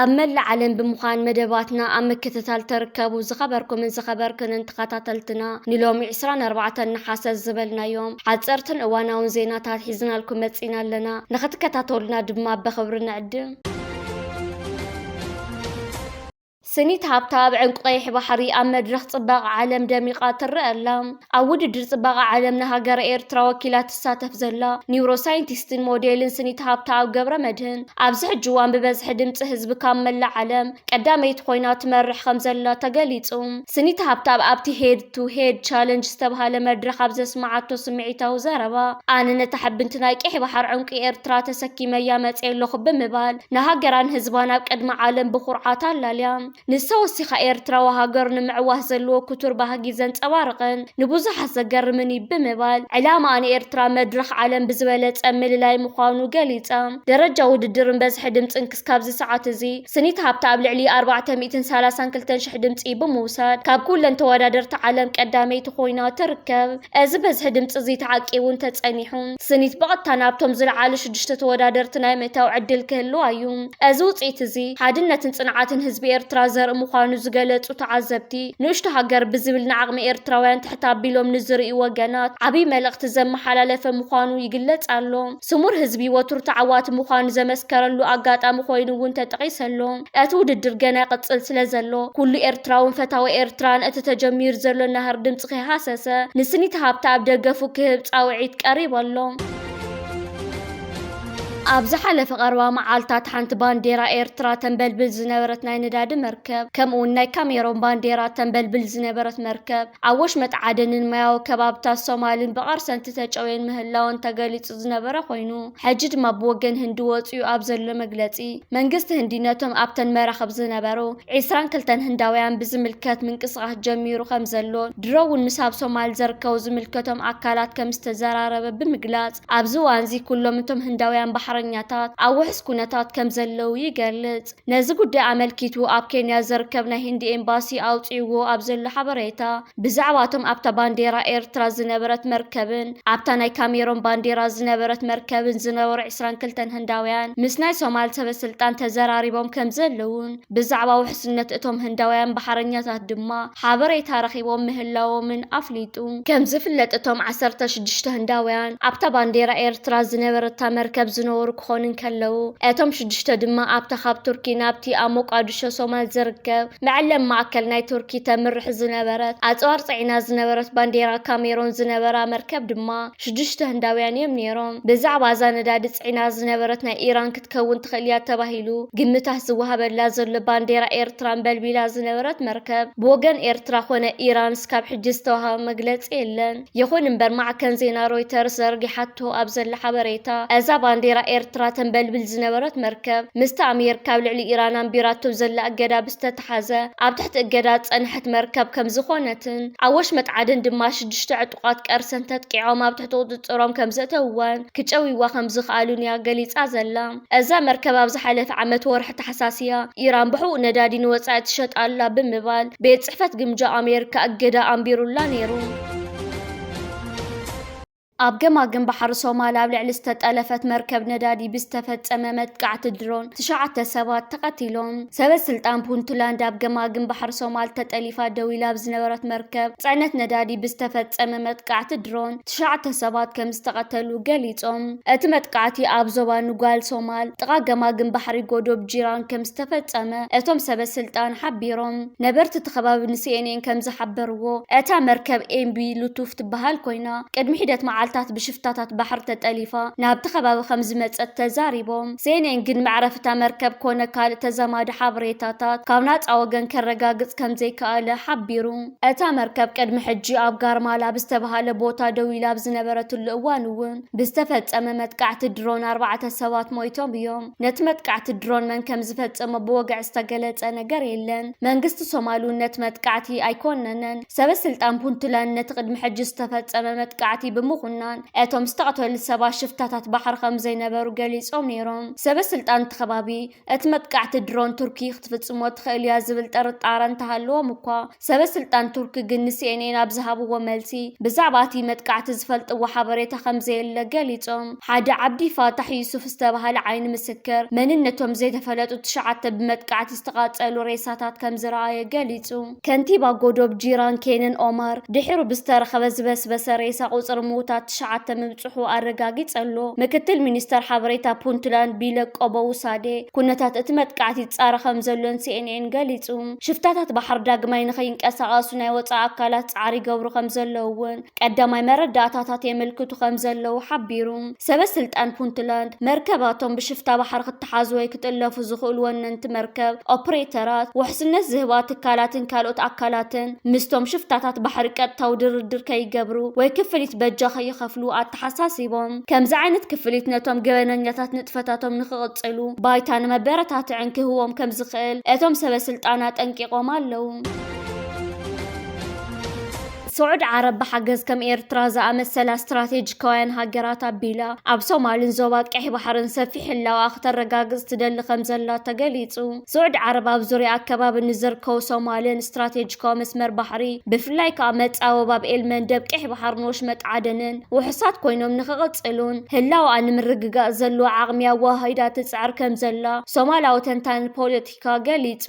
ኣብ መላእ ዓለም ብምዃን መደባትና ኣብ ምክትታል ተርከቡ ዝኸበርኩምን ዝኸበርክንን ተኸታተልትና ንሎሚ 24 ነሓሰ ዝበልናዮም ሓፀርትን እዋናውን ዜናታት ሒዝናልኩም መፂና ኣለና ንኽትከታተሉና ድማ በኽብሪ ንዕድም ስኒት ሃብታብ ዕንቁ ቀይሕ ባሕሪ ኣብ መድረኽ ፅባቐ ዓለም ደሚቓ ትረአ ኣላ። ኣብ ውድድር ፅባቐ ዓለም ንሃገረ ኤርትራ ወኪላ ትሳተፍ ዘላ ኒውሮ ሳይንቲስትን ሞዴልን ስኒት ሃብታብ ገብረ መድህን ኣብዚ ሕጂ እዋን ብበዝሒ ድምፂ ህዝቢ ካብ መላእ ዓለም ቀዳመይቲ ኮይና ትመርሕ ከም ዘላ ተገሊፁ። ስኒት ሃብታብ ኣብቲ ሄድ ቱ ሄድ ቻለንጅ ዝተብሃለ መድረኽ ኣብ ዘስመዓቶ ስምዒታዊ ዘረባ፣ ኣነ ነታ ሕብንቲ ናይ ቀይሕ ባሕር ዑንቂ ኤርትራ ተሰኪመያ መጺኤ ኣለኹ ብምባል ንሃገራን ህዝባን ኣብ ቅድሚ ዓለም ብኹርዓት ኣላልያ። ንሳ ወሲኻ ኤርትራዊ ሃገር ንምዕዋት ዘለዎ ክቱር ባህጊ ዘንጸባርቕን ንብዙሓት ዘገርምን እዩ ብምባል ዕላማኣ ንኤርትራ መድረኽ ዓለም ብዝበለጸ ምልላይ ምዃኑ ገሊጻ። ደረጃ ውድድርን በዝሒ ድምጽን ካብዚ ሰዓት እዚ ስኒት ሃብተ ኣብ ልዕሊ ኣርባዕተ ሚእትን ሰላሳን ክልተን ሽሕ ድምፂ ብምውሳድ ካብ ኩለን ተወዳደርቲ ዓለም ቀዳመይቲ ኮይና ትርከብ። እዚ በዝሒ ድምፂ እዚ ተዓቂቡ እንተፀኒሑ ስኒት ብቐጥታ ናብቶም ዝለዓሉ ሽዱሽተ ተወዳደርቲ ናይ ምእታው ዕድል ክህልዋ እዩ። እዚ ውፅኢት እዚ ሓድነትን ፅንዓትን ህዝቢ ኤርትራ ዘርኢ ምዃኑ ዝገለፁ ተዓዘብቲ ንእሽቶ ሃገር ብዝብል ንዓቕሚ ኤርትራውያን ትሕት ኣቢሎም ንዝርእዩ ወገናት ዓብይ መልእኽቲ ዘመሓላለፈ ምዃኑ ይግለፅ ኣሎ። ስሙር ህዝቢ ወትሩ ተዓዋቲ ምዃኑ ዘመስከረሉ ኣጋጣሚ ኮይኑ እውን ተጠቒሰ ኣሎ። እቲ ውድድር ገና ይቕጽል ስለዘሎ፣ ኩሉ ኤርትራውን ፈታዊ ኤርትራን እቲ ተጀሚሩ ዘሎ ናህሪ ድምጺ ከይሃሰሰ ንስኒት ሃብተ ኣብ ደገፉ ክህብ ጻውዒት ቀሪቡ ኣሎ። ኣብ ዝሓለፈ ቀረባ መዓልታት ሓንቲ ባንዴራ ኤርትራ ተንበልብል ዝነበረት ናይ ነዳዲ መርከብ ከምኡውን ናይ ካሜሮን ባንዴራ ተንበልብል ዝነበረት መርከብ ኣብ ወሽመጥ ዓደንን ማያዊ ከባብታት ሶማልን ብቐርሰንቲ ተጨውየን ምህላወን ተገሊጹ ዝነበረ ኮይኑ፣ ሕጂ ድማ ብወገን ህንዲ ወጺኡ ኣብ ዘሎ መግለጺ፣ መንግስቲ ህንዲ ነቶም ኣብተን መራኽብ ዝነበሩ ዕስራን ክልተን ህንዳውያን ብዝምልከት ምንቅስቓስ ጀሚሩ ከምዘሎን ድሮ'ውን ምስ ኣብ ሶማል ዘርከቡ ዝምልከቶም ኣካላት ከምዝተዘራረበ ብምግላጽ፣ ኣብዚ እዋንዚ ኩሎም እቶም ህንዳውያን ባሕረኛታት ኣብ ውሑስ ኩነታት ከምዘለዉ ይገልጽ። ነዚ ጉዳይ ኣመልኪቱ ኣብ ኬንያ ዝርከብ ናይ ህንዲ ኤምባሲ ኣውጺእዎ ኣብ ዘሎ ሓበሬታ፣ ብዛዕባ'ቶም ኣብታ ባንዴራ ኤርትራ ዝነበረት መርከብን ኣብታ ናይ ካሜሮን ባንዴራ ዝነበረት መርከብን ዝነበሩ ዕስራን ክልተን ህንዳውያን ምስ ናይ ሶማል ሰበስልጣን ተዘራሪቦም ከምዘለዉን ብዛዕባ ውሕስነት እቶም ህንዳውያን ባሕረኛታት ድማ ሓበሬታ ረኺቦም ምህላዎምን ኣፍሊጡ። ከም ዝፍለጥ እቶም ዓሰርተ ሽዱሽተ ህንዳውያን ኣብታ ባንዴራ ኤርትራ ዝነበረታ መርከብ ዝነበሩ ክኾኑ እንከለዉ፣ እቶም ሽዱሽተ ድማ ኣብታ ካብ ቱርኪ ናብቲ ኣብ ሞቃድሾ ሶማል ዝርከብ መዐለቢ ማእከል ናይ ቱርኪ ተምርሕ ዝነበረት ኣጽዋር ጽዒና ዝነበረት ባንዴራ ካሜሮን ዝነበራ መርከብ ድማ ሽዱሽተ ህንዳውያን እዮም ነይሮም። ብዛዕባ እዛ ነዳዲ ጽዒና ዝነበረት ናይ ኢራን ክትከውን ትኽእል እያ ተባሂሉ ግምታት ዝወሃበላ ዘሎ ባንዴራ ኤርትራ ኣንበልቢላ ዝነበረት መርከብ ብወገን ኤርትራ ኮነ ኢራን እስካብ ሕጂ ዝተዋህበ መግለጺ የለን። ይኹን እምበር ማዕከን ዜና ሮይተርስ ዘርጊሓቶ ኣብ ዘላ ሓበሬታ እዛ ባንዴራ ኤርትራ ተንበልብል ዝነበረት መርከብ ምስታ ኣሜርካ ኣብ ልዕሊ ኢራን ኣንቢራቶ ዘላ እገዳ ብዝተታ ዝተትሓዘ ኣብ ትሕቲ እገዳ ዝጸንሐት መርከብ ከም ዝኾነትን ኣብ ወሽመጥ ዓደን ድማ ሽዱሽተ ዕጡቓት ቀርሰን ተጥቂዖም ኣብ ትሕቲ ቁጽጽሮም ከም ዘእተውዋን ክጨውይዋ ከም ዝኽኣሉን እያ ገሊጻ ዘላ። እዛ መርከብ ኣብ ዝሓለፈ ዓመት ወርሒ ታሕሳስ እያ ኢራን ብሕቡእ ነዳዲ ንወጻኢ ትሸጥ ኣላ ብምባል ቤት ጽሕፈት ግምጃ ኣሜሪካ እገዳ ኣንቢሩላ ነይሩ። ኣብ ገማግም ባሕሪ ሶማል ኣብ ልዕሊ ዝተጠለፈት መርከብ ነዳዲ ብዝተፈጸመ መጥቃዕቲ ድሮን ትሽዓተ ሰባት ተቐቲሎም። ሰበ ስልጣን ፑንትላንድ ኣብ ገማግም ባሕሪ ሶማል ተጠሊፋ ደው ኢላ ኣብ ዝነበረት መርከብ ጽዕነት ነዳዲ ብዝተፈጸመ መጥቃዕቲ ድሮን ትሽዓተ ሰባት ከም ዝተቐተሉ ገሊጾም። እቲ መጥቃዕቲ ኣብ ዞባ ኑጓል ሶማል ጥቓ ገማግም ባሕሪ ጎዶብ ጂራን ከም ዝተፈጸመ እቶም ሰበ ስልጣን ሓቢሮም። ነበርቲ እቲ ከባቢ ንሲኤንኤን ከም ዝሓበርዎ እታ መርከብ ኤምቢ ሉቱፍ ትበሃል ኮይና፣ ጀርመና ቅድሚ ሒደት መዓልታት ብሽፍታታት ባሕሪ ተጠሊፋ ናብቲ ከባቢ ከምዝመጸት ተዛሪቦም። ሴኔን ግን መዕረፊ እታ መርከብ ኮነ ካልእ ተዛማዲ ሓበሬታታት ካብ ናጻ ወገን ከረጋግጽ ከምዘይከኣለ ሓቢሩ። እታ መርከብ ቅድሚ ሕጂ ኣብ ጋርማላ ብዝተበሃለ ቦታ ደው ኢላ ኣብ ዝነበረትሉ እዋን'ውን ብዝተፈጸመ መጥቃዕቲ ድሮን ኣርባዕተ ሰባት ሞይቶም እዮም። ነቲ መጥቃዕቲ ድሮን መን ከምዝፈጸሞ ብወግዒ ዝተገለጸ ነገር የለን። መንግስቲ ሶማል'ውን ነቲ መጥቃዕቲ ኣይኮነነን። ሰበ ስልጣን ፑንትላንድ ነቲ ቅድሚ ሕጂ ዝተፈጸመ መጥቃዕቲ ብምኹናን፣ እቶም ዝተቐተሉ ሰባት ሽፍታታት ባሕሪ ከም ዘይነበሩ ገሊጾም ነይሮም። ሰበ ስልጣን እቲ ከባቢ፣ እቲ መጥቃዕቲ ድሮን ቱርኪ ክትፍጽሞ ትኽእል እያ ዝብል ጥርጣረ እንተሃለዎም እኳ፣ ሰበ ስልጣን ቱርኪ ግን ንሲኤንኤን ኣብ ዝሃብዎ መልሲ፣ ብዛዕባ እቲ መጥቃዕቲ ዝፈልጥዎ ሓበሬታ ከም ዘየለ ገሊጾም። ሓደ ዓብዲ ፋታሕ ዩሱፍ ዝተባህለ ዓይኒ ምስክር፣ መንነቶም ዘይተፈለጡ ትሽዓተ ብመጥቃዕቲ ዝተቓጸሉ ሬሳታት ከም ዝረኣየ ገሊጹ። ከንቲባ ጎዶብ ጂራን ኬንን ኦማር፣ ድሒሩ ብዝተረኸበ ዝበስበሰ ሬሳ ቁጽሪ ምዉታት ትሽዓተ ምብጽሑ ኣረጋጊጸ ኣሎ። ምክትል ሚኒስተር ሓበሬታ ፑንትላንድ ቢለክ ቆቦዉሳዴ፣ ኩነታት እቲ መጥቃዕቲ ይጻረ ከምዘሎ ን ሲኤንኤን ገሊጹ። ሽፍታታት ባሕሪ ዳግማይ ንኸይንቀሳቐሱ ናይ ወጻኢ ኣካላት ጻዕሪ ይገብሩ ከምዘለዉ'ውን ቀዳማይ መረዳእታታት የመልክቱ ከም ዘለዉ ሓቢሩ። ሰበ ስልጣን ፑንትላንድ፣ መርከባቶም ብሽፍታ ባሕሪ ክተሓዙ ወይ ክጥለፉ ዝኽእሉ ወነንቲ መርከብ፣ ኦፕሬተራት፣ ውሕስነት ዝህባ ትካላትን ካልኦት ኣካላትን ምስቶም ሽፍታታት ባሕሪ ቀጥታዊ ድርድር ከይገብሩ ወይ ክፍሊት በጃ ከይኸፍሉ ኣተሓሳሲቦም። ከምዚ ዓይነት ክፍሊት ነቶም ገበነኛታት ንጥፈታቶም ንኽቕጽሉ ባይታን መበረታትዕን ክህቦም ከም ዝኽእል እቶም ሰበ ስልጣን ኣጠንቂቖም ኣለዉ። ስዑድ ዓረብ ብሓገዝ ከም ኤርትራ ዝኣመሰላ ስትራቴጂካውያን ሃገራት ኣቢላ ኣብ ሶማልን ዞባ ቀይሕ ባሕርን ሰፊሕ ህላወኣ ክተረጋግጽ ትደሊ ከም ዘላ ተገሊጹ። ስዑድ ዓረብ ኣብ ዙርያ ኣከባቢ ንዝርከቡ ሶማልን ስትራቴጂካዊ መስመር ባሕሪ ብፍላይ ከኣ መጻወ ባብ ኤል መንደብ ቀይሕ ባሕርን ወሽመጥ ዓደንን ውሑሳት ኮይኖም ንኽቕጽሉን ህላወኣ ንምርግጋጽ ዘለዋ ዓቕሚ ኣወሃሂዳ ትጽዕር ከም ዘላ ሶማላዊ ተንታኒ ፖለቲካ ኣመሪካ ገሊጹ።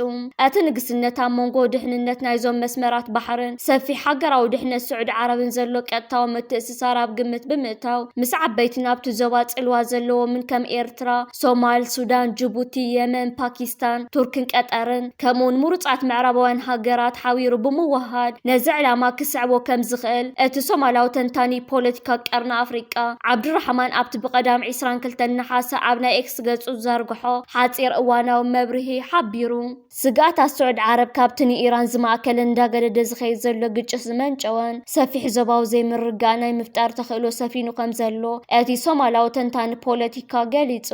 እቲ ንግስነት ኣብ መንጎ ድሕንነት ናይዞም መስመራት ባሕርን ሰፊሕ ሃገራዊ ድሕነት ስዑዲ ዓረብን ዘሎ ቀጥታዊ ምትእስሳር ኣብ ግምት ብምእታው፣ ምስ ዓበይቲን ኣብቲ ዞባ ጽልዋ ዘለዎምን ከም ኤርትራ፣ ሶማል፣ ሱዳን፣ ጅቡቲ፣ የመን፣ ፓኪስታን፣ ቱርክን ቀጠርን ከምኡ'ውን ምሩጻት ምዕራባውያን ሃገራት ሓቢሩ ብምውህሃድ ነዚ ዕላማ ክስዕቦ ከም ዝኽእል እቲ ሶማላዊ ተንታኒ ፖለቲካ ቀርኒ ኣፍሪቃ ዓብዱራሕማን ኣብቲ ብቀዳም ዕስራን ክልተን ነሓሰ ኣብ ናይ ኤክስ ገጹ ዝዘርግሖ ሓጺር እዋናዊ መብርሂ ሓቢሩ። ስግኣታት ስዑድ ዓረብ ካብቲ ንኢራን ዝማእከለን እንዳገደደ ዝኸይድ ዘሎ ግጭት ዝመንጨወን ሰፊሕ ዞባዊ ዘይምርግጋእ ናይ ምፍጣር ተኽእሎ ሰፊኑ ከምዘሎ እቲ ሶማላዊ ተንታኒ ፖለቲካ ገሊጹ።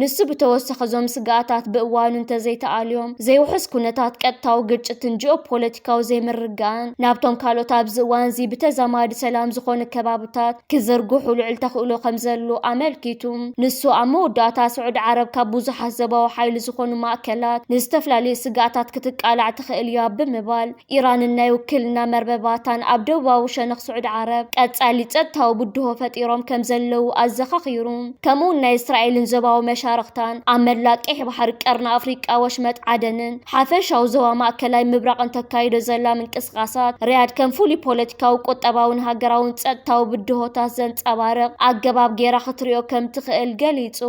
ንሱ ብተወሳኺ እዞም ስግኣታት ብእዋኑ እንተዘይተኣልዮም ዘይውሑስ ኩነታት ቀጥታዊ ግጭትን ጂኦፖለቲካዊ ዘይምርግጋእን ናብቶም ካልኦት ኣብዚ እዋንዚ ብተዛማዲ ሰላም ዝኾኑ ከባብታት ክዝርግሑ ልዑል ተኽእሎ ከምዘሎ ኣመልኪቱ። ንሱ ኣብ መወዳእታ ስዑድ ዓረብ ካብ ብዙሓት ዞባዊ ሓይሊ ዝኾኑ ማእከላት ንዝተፈላለዩ ስግኣታት ክትቃላዕ ትኽእል እያ ብምባል ኢራንን ናይ ውክልና መርበባታን ኣብ ደቡባዊ ሸነኽ ስዑድ ዓረብ ቀጻሊ ጸጥታዊ ብድሆ ፈጢሮም ከምዘለዉ ኣዘኻኺሩ። ከምኡ'ውን ናይ እስራኤልን ዞባዊ መሻርኽታን ኣብ መላእ ቀይሕ ባሕሪ፣ ቀርኒ ኣፍሪቃ፣ ወሽመጥ ዓደንን ሓፈሻዊ ዞባ ማእከላይ ምብራቕን ተካይዶ ዘላ ምንቅስቓሳት ሪያድ ከም ፍሉይ ፖለቲካዊ፣ ቁጠባዊን ሃገራዊን ጸጥታዊ ብድሆታት ዘንጸባርቕ ኣገባብ ገይራ ክትሪኦ ከም ትኽእል ገሊጹ።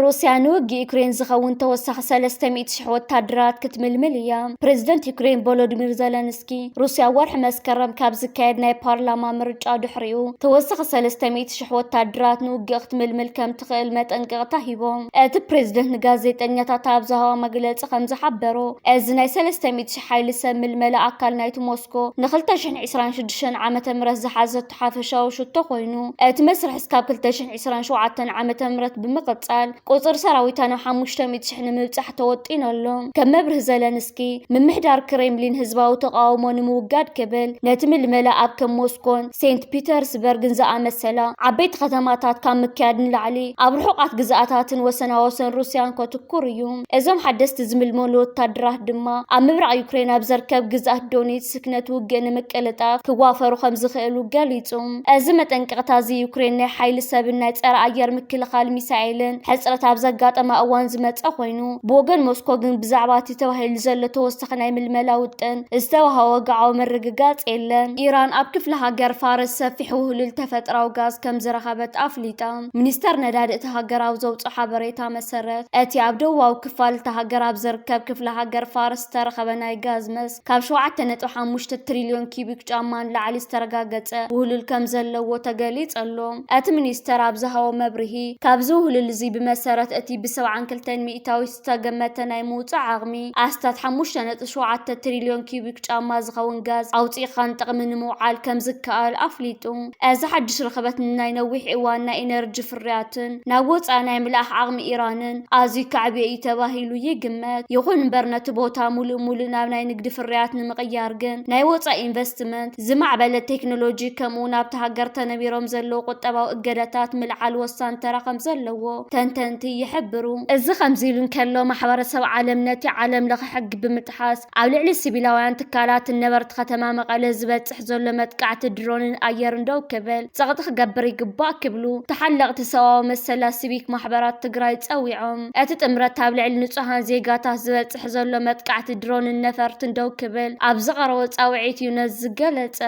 ሩስያ ንውግእ ዩክሬን ዝኸውን ተወሳኺ ሰለስተ ሚእቲ ሽሕ ወታደራት ክትምልምል እያ፣ ፕረዚደንት ዩክሬን ቮሎዲሚር ዘለንስኪ ዘለንስኪ፣ ሩስያ ወርሒ መስከረም ካብ ዝካየድ ናይ ፓርላማ ምርጫ ድሕሪኡ ተወሳኺ ሰለስተ ሚእቲ ሽሕ ወታደራት ንውግእ ክትምልምል ከም ትኽእል መጠንቀቕታ ሂቦም። እቲ ፕሬዝደንት ንጋዜጠኛታት ኣብ ዝሃቦ መግለጺ ከም ዝሓበሮ፣ እዚ ናይ ሰለስተ ሚእቲ ሽሕ ሓይሊ ሰብ ምልመላ ኣካል ናይቲ ሞስኮ ንክልተ ሽሕን ዕስራን ሽዱሽተን ዓመተ ምህረት ዝሓዘቶ ሓፈሻዊ ሽቶ ኮይኑ፣ እቲ መስርሕ እስካብ ክልተ ሽሕን ዕስራን ሸውዓተን ዓመተ ምህረት ብምቕጻል ቁፅሪ ሰራዊታ ናብ ሓሙሽተ ሚእቲ ሽሕ ንምብፃሕ ተወጢኑ ኣሎ። ከም መብርሂ ዘለንስኪ፣ ምምሕዳር ክሬምሊን ህዝባዊ ተቓውሞ ንምውጋድ ክብል ነቲ ምልመላ ኣብ ከም ሞስኮን ሴንት ፒተርስበርግን ዝኣመሰላ ዓበይቲ ከተማታት ካብ ምክያድ ንላዕሊ ኣብ ርሑቓት ግዝኣታትን ወሰናወሰን ሩስያን ከትኩር እዩ። እዞም ሓደስቲ ዝምልመሉ ወታደራት ድማ ኣብ ምብራቕ ዩክሬን ኣብ ዘርከብ ግዝኣት ዶኒትስክ ነቲ ውግእ ንምቅልጣፍ ክዋፈሩ ከምዝኽእሉ ገሊጹ። እዚ መጠንቀቕታ እዚ ዩክሬን ናይ ሓይሊ ሰብን ናይ ጸረ ኣየር ምክልኻል ሚሳኤልን ሕጽረት ኣብ ዘጋጠማ እዋን ዝመጸ ኮይኑ ብወገን ሞስኮ ግን ብዛዕባ እቲ ተባሂሉ ዘሎ ተወሳኺ ናይ ምልመላ ውጥን ዝተዋሃ ወግዓዊ ምርግጋጽ የለን። ኢራን ኣብ ክፍለ ሃገር ፋርስ ሰፊሕ ውህሉል ተፈጥራዊ ጋዝ ከም ዝረኸበት ኣፍሊጣ። ሚኒስተር ነዳዲ እታ ሃገር ኣብ ዘውጽኦ ሓበሬታ መሰረት እቲ ኣብ ደቡባዊ ክፋል እታ ሃገር ኣብ ዝርከብ ክፍለ ሃገር ፋርስ ዝተረኸበ ናይ ጋዝ መስክ ካብ ሸውዓተ ነጥቢ ሓሙሽተ ትሪልዮን ኪዩቢክ ጫማ ንላዕሊ ዝተረጋገፀ ውህሉል ከምዘለዎ ተገሊፅ ኣሎ። እቲ ሚኒስተር ኣብ ዝሃቦ መብርሂ፣ ካብዚ ውህሉል እዚ ብመሰረት እቲ ብ ሰብዓን ክልተን ሚኢታዊት ዝተገመተ ናይ ምውፃእ ዓቕሚ ኣስታት ሓሙሽተ ነጥቢ ሸውዓተ ትሪልዮን ኪዩቢክ ጫማ ዝኸውን ጋዝ ኣውፂእኻ ንጥቕሚ ንምውዓል ከምዝከኣል ኣፍሊጡ። እዚ ሓድሽ ርኽበት ንናይ ነዊሕ እዋን ናይ ኢነርጂ ፍርያትን ናብ ወጻኢ ናይ ምልኣኽ ዓቕሚ ኢራንን ኣዝዩ ከዕብዮ እዩ ተባሂሉ ይግመት። ይኹን እምበር ነቲ ቦታ ሙሉእ ሙሉእ ናብ ናይ ንግዲ ፍርያት ንምቕያር ግን ናይ ወጻኢ ኢንቨስትመንት፣ ዝማዕበለ ቴክኖሎጂ ከምኡ'ውን ኣብታ ሃገር ተነቢሮም ዘለዉ ቁጠባዊ እገዳታት ምልዓል ወሳኒ ተራ ከምዘለዎ ተንተንቲ ይሕብሩ። እዚ ከምዚ ኢሉ እንከሎ ማሕበረሰብ ዓለም ነቲ ዓለም ለኸ ሕጊ ብምጥሓስ፣ ኣብ ልዕሊ ሲቪላውያን ትካላትን ነበርቲ ከተማ መቐለ ዝበፅሕ ዘሎ መጥቃዕቲ ድሮንን ኣየርን ደው ክብል ፀቕጢ ክገብር ይግባእ ክብሉ ተሓለቕቲ ሰብኣዊ መሰላት ሲቪክ ማሕበራት ትግራይ ፀዊዖም። እቲ ጥምረት ኣብ ልዕሊ ንፁሃን ዜጋታት ዝበፅሕ ዘሎ መጥቃዕቲ ድሮንን ነፈርትን ደው ክብል ኣብ ዘቐረቦ ፃውዒት እዩ ነዚ ዝገለፀ።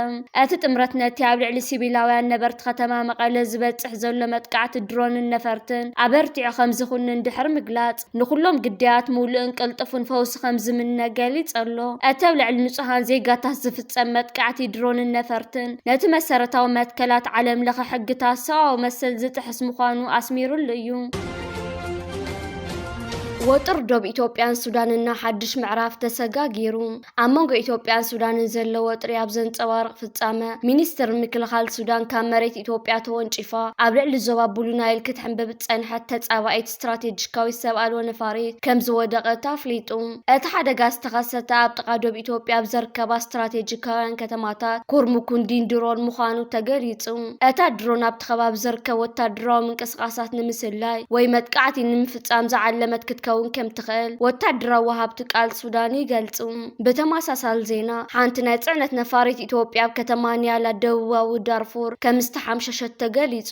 እቲ ጥምረት ነቲ ኣብ ልዕሊ ሲቪላውያን ነበርቲ ከተማ መቐለ ዝበፅሕ ዘሎ መጥቃዕቲ ድሮንን ነፈርትን ኣበርቲዑ ከምዝኹንን ድሕሪ ምግላፅ፣ ንኹሎም ግዳያት ምሉእን ቅልጡፍን ፈውሲ ከም ዝምነ ገሊጽ ኣሎ። እቲ ኣብ ልዕሊ ንጹሃን ዜጋታት ዝፍጸም መጥቃዕቲ ድሮንን ነፈርትን፣ ነቲ መሰረታዊ መትከላት ዓለምለኸ ሕግታት ሰብኣዊ መሰል ዝጥሕስ ምዃኑ ኣስሚርሉ እዩ። ወጥሪ ዶብ ኢትዮጵያን ሱዳንና ሓድሽ ምዕራፍ ተሰጋጊሩ። ኣብ መንጎ ኢትዮጵያን ሱዳንን ዘሎ ወጥሪ ኣብ ዘንጸባርቕ ፍጻመ፣ ሚኒስትሪ ምክልኻል ሱዳን ካብ መሬት ኢትዮጵያ ተወንጪፋ ኣብ ልዕሊ ዞባ ብሉ ናይል ክትሕንብብ ዝጸንሐት ተጻባኢት ስትራቴጂካዊት ሰብ ኣልቦ ነፋሪት ከም ዝወደቐት ኣፍሊጡ። እቲ ሓደጋ ዝተኸሰተ ኣብ ጥቓ ዶብ ኢትዮጵያ ኣብ ዘርከባ ስትራቴጂካውያን ከተማታት ኩርሙኩን ዲንድሮን ምዃኑ ተገሊጹ። እታ ድሮን ኣብ ኣብቲ ከባቢ ዝርከብ ወታደራዊ ምንቅስቓሳት ንምስላይ ወይ መጥቃዕቲ ንምፍጻም ዝዓለመት ክትከውን ከም ትኽእል ወታደራዊ ወሃብቲ ቃል ሱዳን ይገልጹ። ብተመሳሳሊ ዜና፣ ሓንቲ ናይ ጽዕነት ነፋሪት ኢትዮጵያ ኣብ ከተማ ኒያላ ደቡባዊ ዳርፉር ከም ዝተሓምሸሸት ተገሊጹ።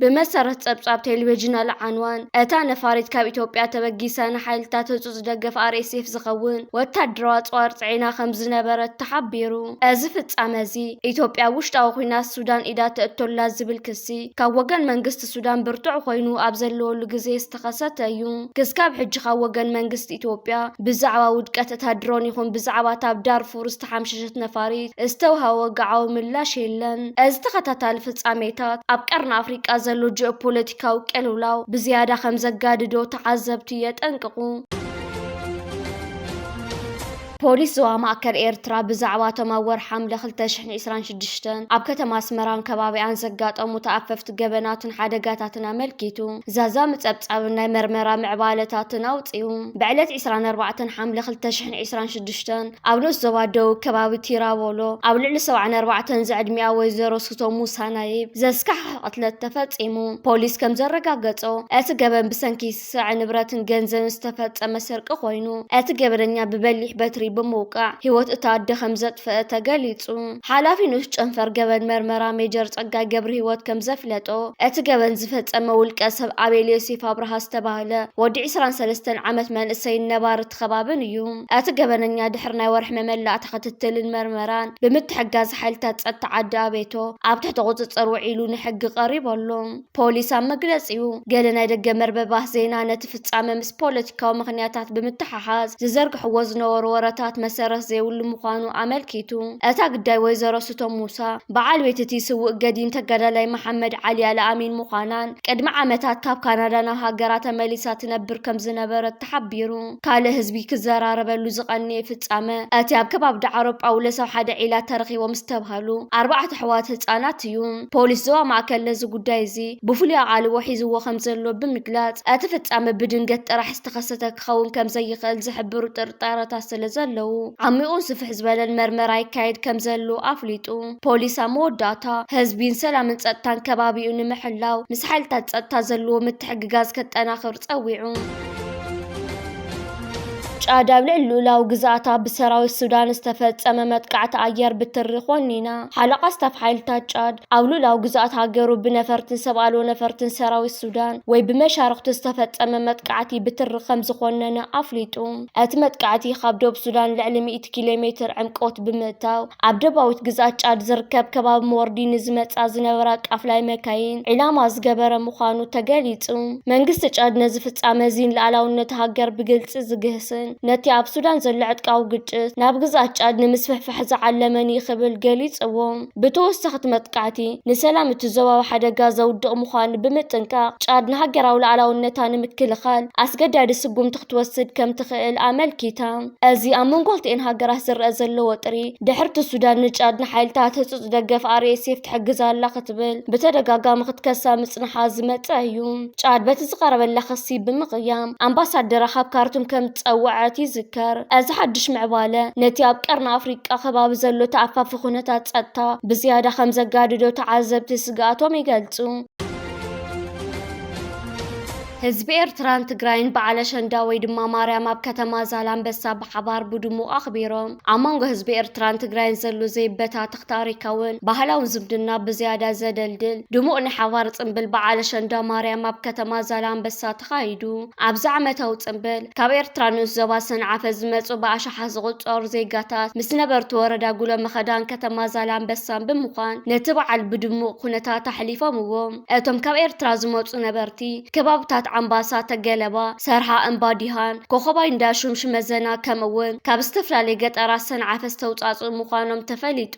ብመሰረት ጸብጻብ ቴሌቪዥን ኣል ዓንዋን፣ እታ ነፋሪት ካብ ኢትዮጵያ ተበጊሳ ንሓይልታት ህጹጽ ደገፍ RSF ዝኸውን ወታደራዊ ኣጽዋር ጽዒና ከም ዝነበረት ተሓቢሩ። እዚ ፍጻመ እዚ፣ ኢትዮጵያ ኣብ ውሽጣዊ ኲናት ሱዳን ኢዳ ተእቱ ኣላ ዝብል ክሲ ካብ ወገን መንግስቲ ሱዳን ብርቱዕ ኮይኑ ኣብ ዘለወሉ ግዜ ዝተኸሰተ እዩ። ክስካብ ሕጂ ካብ ወገን መንግስቲ ኢትዮጵያ ብዛዕባ ውድቀት እታ ድሮን ይኹን ብዛዕባ እታ ኣብ ዳርፉር ዝተሓምሸሸት ነፋሪት ዝተውሃበ ወግዓዊ ምላሽ የለን። እዚ ተኸታታሊ ፍጻሜታት፣ ኣብ ቀርኒ ኣፍሪቃ ዘሎ ጂኦፖለቲካዊ ቅልውላው ብዝያዳ ከምዘጋድዶ ተዓዘብቲ የጠንቅቑ። ፖሊስ ዞባ ማእከል ኤርትራ ብዛዕባ እቶም ኣብ ወርሒ ሓምለ ክልተ ሽሕን ዒስራን ሽዱሽተን ኣብ ከተማ ኣስመራን ከባቢኣን ዘጋጠሙ ተኣፈፍቲ ገበናትን ሓደጋታትን ኣመልኪቱ ዛዛሚ ጸብጻብን ናይ መርመራ ምዕባለታትን ኣውጺኡ። ብዕለት ዒስራን ኣርባዕተን ሓምለ ክልተ ሽሕን ዒስራን ሽዱሽተን ኣብ ንኡስ ዞባ ደቡብ ከባቢ ቲራቮሎ ኣብ ልዕሊ ሰብዓን ኣርባዕተን ዝዕድሚኣ ወይዘሮ ሱቶ ሙሳ ናይብ ዘስካሕኽሕ ቅትለት ተፈጺሙ። ፖሊስ ከም ዘረጋገጾ እቲ ገበን ብሰንኪ ስርዐ ንብረትን ገንዘብን ዝተፈጸመ ስርቂ ኮይኑ፣ እቲ ገበነኛ ብበሊሕ በትሪ ብምውቃዕ ህይወት እታ ኣደ ከምዘጥፈኣ ተገሊጹ። ሓላፊ ንኡስ ጨንፈር ገበን መርመራ ሜጀር ጸጋይ ገብርሂወት ከምዘፍለጦ፣ እቲ ገበን ዝፈጸመ ውልቀ ሰብ ኣቤል ዮሴፍ ኣብርሃ ዝተባህለ ወዲ ዕስራን ሰለስተን ዓመት መንእሰይን ነባሪ እቲ ከባብን እዩ። እቲ ገበነኛ ድሕሪ ናይ ወርሒ መመላእታ ክትትልን መርመራን ብምትሕግጋዝ ሓይልታት ጸጥታ ዓዲ ኣቤቶ ኣብ ትሕቲ ቁጽጽር ውዒሉ ንሕጊ ቀሪቡ ኣሎ። ፖሊስ ኣብ መግለጺኡ፣ ገለ ናይ ደገ መርበባት ዜና ነቲ ፍጻመ ምስ ፖለቲካዊ ምኽንያታት ብምትሕሓዝ ዝዘርግሕዎ ዝነበሩ ወረታት መሰረት ዘይብሉ ምዃኑ ኣመልኪቱ። እታ ግዳይ ወይዘሮ ስቶም ሙሳ፣ በዓል ቤት እቲ ስዉእ ገዲም ተጋዳላይ መሓመድ ዓሊ ኣልኣሚን ምዃናን፣ ቅድሚ ዓመታት ካብ ካናዳ ናብ ሃገራ ተመሊሳ ትነብር ከምዝነበረት ተሓቢሩ። ካልእ ህዝቢ ክዘራረበሉ ዝቐንየ ፍጻመ፣ እቲ ኣብ ከባቢ ዳዕሮ ጳውሎስ ኣብ ሓደ ዒላ ተረኺቦም ዝተብሃሉ ኣርባዕተ ኣሕዋት ህጻናት እዩ። ፖሊስ ዞባ ማእከል ነዚ ጉዳይ እዚ ብፍሉይ ኣቓልቦ ሒዝዎ ከም ዘሎ ብምግላጽ፣ እቲ ፍጻመ ብድንገት ጥራሕ ዝተኸሰተ ክኸውን ከም ዘይኽእል ዝሕብሩ ጥርጣረታት ስለ ዘለዉ፣ ዓሚቝን ስፍሕ ዝበለን መርመራ ይካየድ ከም ዘሎ ኣፍሊጡ። ፖሊስ ኣብ መወዳእታ፣ ህዝቢ ንሰላምን ጸጥታን ከባቢኡ ንምሕላው ምስ ሓይልታት ጸጥታ ዘለዎ ምትሕግጋዝ ከጠናኽር ጸዊዑ። ጫድ ኣብ ልዕሊ ልኡላዊ ግዝኣታ ብሰራዊት ሱዳን ዝተፈጸመ መጥቃዕቲ ኣየር ብትሪ ኮኒና። ሓለቓ ስታፍ ሓይልታት ጫድ፣ ኣብ ልኡላዊ ግዝኣት ሃገሩ ብነፈርትን ሰብ ኣልቦ ነፈርትን ሰራዊት ሱዳን ወይ ብመሻርኽቱ ዝተፈጸመ መጥቃዕቲ ብትሪ ከምዝኾነነ ኣፍሊጡ። እቲ መጥቃዕቲ ካብ ዶብ ሱዳን ልዕሊ ሚእቲ ኪሎ ሜትር ዕምቆት ብምእታው ኣብ ደባዊት ግዝኣት ጫድ ዝርከብ ከባቢ መወርዲ ንዝመፃ ዝነበራ ቃፍላይ መካይን ዒላማ ዝገበረ ምዃኑ ተገሊፁ። መንግስቲ ጫድ ነዚ ፍፃመ እዚ ንልኣላውነት ሃገር ብግልፂ ዝግህስን ነቲ ኣብ ሱዳን ዘሎ ዕጥቃዊ ግጭት ናብ ግዝኣት ጫድ ንምስፍሕፋሕ ዝዓለመን እዩ ክብል ገሊፅዎ። ብተወሳኺ እቲ መጥቃዕቲ ንሰላም እቲ ዞባ ኣብ ሓደጋ ዘውድቕ ምዃኑ ብምጥንቃቕ ጫድ ንሃገራዊ ልኣላውነታ ንምክልኻል ኣስገዳዲ ስጉምቲ ክትወስድ ከምትኽእል ኣመልኪታ። እዚ ኣብ መንጎ ክልቲኤን ሃገራት ዝረኣ ዘሎ ወጥሪ፣ ድሕርቲ ሱዳን ንጫድ ንሓይልታት ህጹጽ ደገፍ RSF ትሕግዝ ኣላ ክትብል ብተደጋጋሚ ክትከሳ ምጽንሓ ዝመጸ እዩ። ጫድ በቲ ዝቐረበላ ክሲ ብምቕያም ኣምባሳደራ ካብ ካርቱም ከም ዝጸወዐት ይዝከር። እዚ ሓድሽ ምዕባለ ነቲ ኣብ ቀርኒ ኣፍሪቃ ከባቢ ዘሎ ተኣፋፊ ኩነታት ጸጥታ ብዝያዳ ከም ዘጋድዶ ተዓዘብቲ ስግኣቶም ይገልጹ። ህዝቢ ኤርትራን ትግራይን በዓል ኣሸንዳ ወይ ድማ ማርያም ኣብ ከተማ ዛላንበሳ ብሓባር ብድሙቕ ኣኽቢሮም። ኣብ መንጎ ህዝቢ ኤርትራን ትግራይን ዘሎ ዘይበታተኽ ታሪካውን ባህላውን ዝምድና ብዝያዳ ዘደልድል ድሙቕ ናይ ሓባር ጽምብል በዓል ኣሸንዳ ማርያም ኣብ ከተማ ዛላንበሳ ተኻይዱ። ኣብዚ ዓመታዊ ጽምብል፣ ካብ ኤርትራ ንኡስ ዞባ ሰንዓፈ ዝመጹ ብኣሽሓት ዝቑጸሩ ዜጋታት ምስ ነበርቲ ወረዳ ጉሎመኸዳን ከተማ ዛላንበሳን ብምዃን ነቲ በዓል ብድሙቕ ኩነታት ኣሕሊፎምዎ። እቶም ካብ ኤርትራ ዝመጹ ነበርቲ፣ ከባብታት ዓምባሳ፣ ተገለባ፣ ሰርሓ፣ እምባ ዲሃን፣ ኮኾባይ እንዳሹም፣ ሽመዘና ከምኡ'ውን ካብ ዝተፈላለየ ገጠራት ሰንዓፈ ዝተውጻጽኡ ምዃኖም ተፈሊጡ።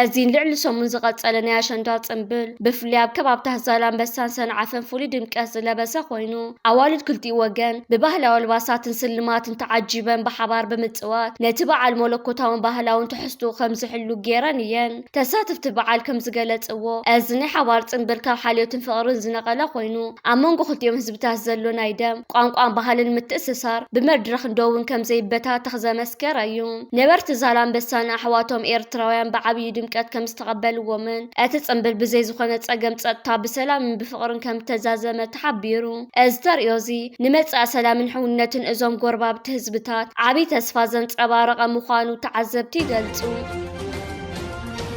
እዚ ንልዕሊ ሰሙን ዝቐጸለ ናይ ኣሸንዳ ጽምብል ብፍላይ ኣብ ከባብታት ዛላምበሳን ሰንዓፈን ፍሉይ ድምቀት ዝለበሰ ኮይኑ፣ ኣዋልድ ክልቲኡ ወገን ብባህላዊ ኣልባሳትን ስልማትን ተዓጂበን ብሓባር ብምጽዋት ነቲ በዓል መለኮታውን ባህላውን ትሕዝትኡ ከምዝሕሉ ገይረን እየን። ተሳተፍቲ በዓል ከምዝገለፅዎ፣ እዚ ናይ ሓባር ፅምብል ካብ ሓልዮትን ፍቕርን ዝነቐለ ኮይኑ፣ ኣብ መንጎ ክልቲኦም ህዝብታት ዘሎ ናይ ደም፣ ቋንቋን ባህልን ምትእስሳር ብመድረኽን ዶብን ከምዘይበታተኽ ዘመስከረ እዩ። ነበርቲ ዛላምበሳ ንኣሕዋቶም ኤርትራውያን ብዓብዪ ድምቀት ከምዝተቐበልዎምን እቲ ፅምብል ብዘይ ዝኾነ ፀገም ፀጥታ ብሰላምን ብፍቕርን ከምተዛዘመ ተሓቢሩ። እዚ ተርእዮ እዚ ንመፃኢ ሰላምን ሕውነትን እዞም ጎረባብቲ ህዝብታት ዓብዪ ተስፋ ዘንፀባረቐ ምዃኑ ተዓዘብቲ ይገልፁ።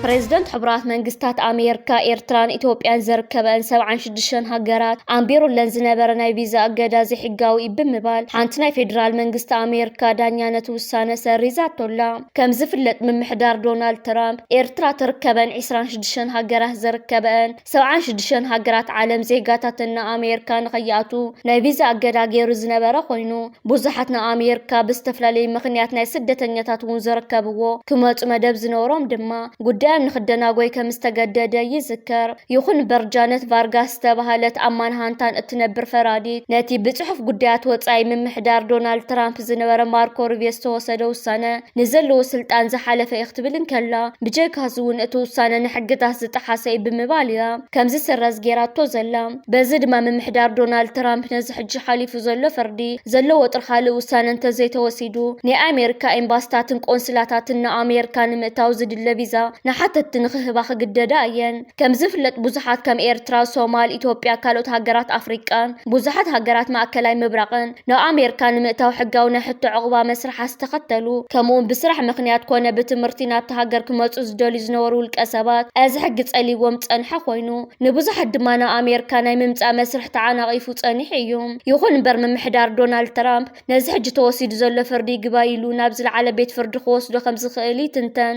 ፕሬዝደንት ሕቡራት መንግስታት ኣሜርካ ኤርትራን ኢትዮጵያን ዘርከበን ሰብዓን ሽዱሽተን ሃገራት ኣንቢሩለን ዝነበረ ናይ ቪዛ እገዳ ዘይሕጋዊ እዩ ብምባል ሓንቲ ናይ ፌዴራል መንግስቲ ኣሜርካ ዳኛ ነቲ ውሳነ ሰሪዛቶላ። ከም ዝፍለጥ ምምሕዳር ዶናልድ ትራምፕ ኤርትራ ትርከበን ዒስራን ሽዱሽተን ሃገራት ዘርከበን ሰብዓን ሽዱሽተን ሃገራት ዓለም ዜጋታተን ንኣሜርካ ንኸይኣትዉ ናይ ቪዛ ኣገዳ ገይሩ ዝነበረ ኮይኑ ብዙሓት ንኣሜርካ ብዝተፈላለዩ ምኽንያት ናይ ስደተኛታት እውን ዝርከብዎ ክመፁ መደብ ዝነበሮም ድማ ጉዳዮም ንክደናጎይ ከም ዝተገደደ ይዝከር። ይኹን እምበር ጃነት ቫርጋስ ዝተባሃለት ኣብ ማንሃንታን እትነብር ፈራዲት ነቲ ብፅሑፍ ጉዳያት ወፃኢ ምምሕዳር ዶናልድ ትራምፕ ዝነበረ ማርኮ ሩቢዮ ዝተወሰደ ውሳነ ንዘለዎ ስልጣን ዝሓለፈ'ዩ ክትብል እንከላ፣ ብጀካ'ዚ'ውን እቲ ውሳነ ንሕግታት ዝጠሓሰ'ዩ ብምባል እያ ከም ዝስረዝ ገይራቶ ዘላ። በዚ ድማ ምምሕዳር ዶናልድ ትራምፕ ነዚ ሕጂ ሓሊፉ ዘሎ ፍርዲ ዘለዎ ወጥሪ ካልእ ውሳነ እንተዘይተወሲዱ ናይ ኣሜሪካ ኤምባሲታትን ቆንስላታትን ንኣሜሪካ ንምእታው ዝድለ ቪዛ ንሓተትቲ ንኽህባ ክግደዳ እየን። ከምዝፍለጥ ብዙሓት ከም ኤርትራ፣ ሶማል፣ ኢትዮጵያ፣ ካልኦት ሃገራት ኣፍሪቃን ብዙሓት ሃገራት ማእከላይ ምብራቕን ናብ ኣሜርካ ንምእታው ሕጋዊ ናይ ሕቶ ዑቕባ መስርሓት ዝተኸተሉ ከምኡውን ብስራሕ ምኽንያት ኮነ ብትምህርቲ ናብታ ሃገር ክመጹ ዝደልዩ ዝነበሩ ውልቀሰባት እዚ ሕጊ ጸልይዎም ዝጸንሐ ኮይኑ ንብዙሓት ድማ ናብ ኣሜርካ ናይ ምምጻእ መስርሕ ተዓናቒፉ ጸኒሑ እዩ። ይኹን እምበር ምምሕዳር ዶናልድ ትራምፕ ነዚ ሕጂ ተወሲዱ ዘሎ ፍርዲ ይግባይ ኢሉ ናብ ዝለዓለ ቤት ፍርዲ ክወስዶ ከምዝኽእል ይትንተን።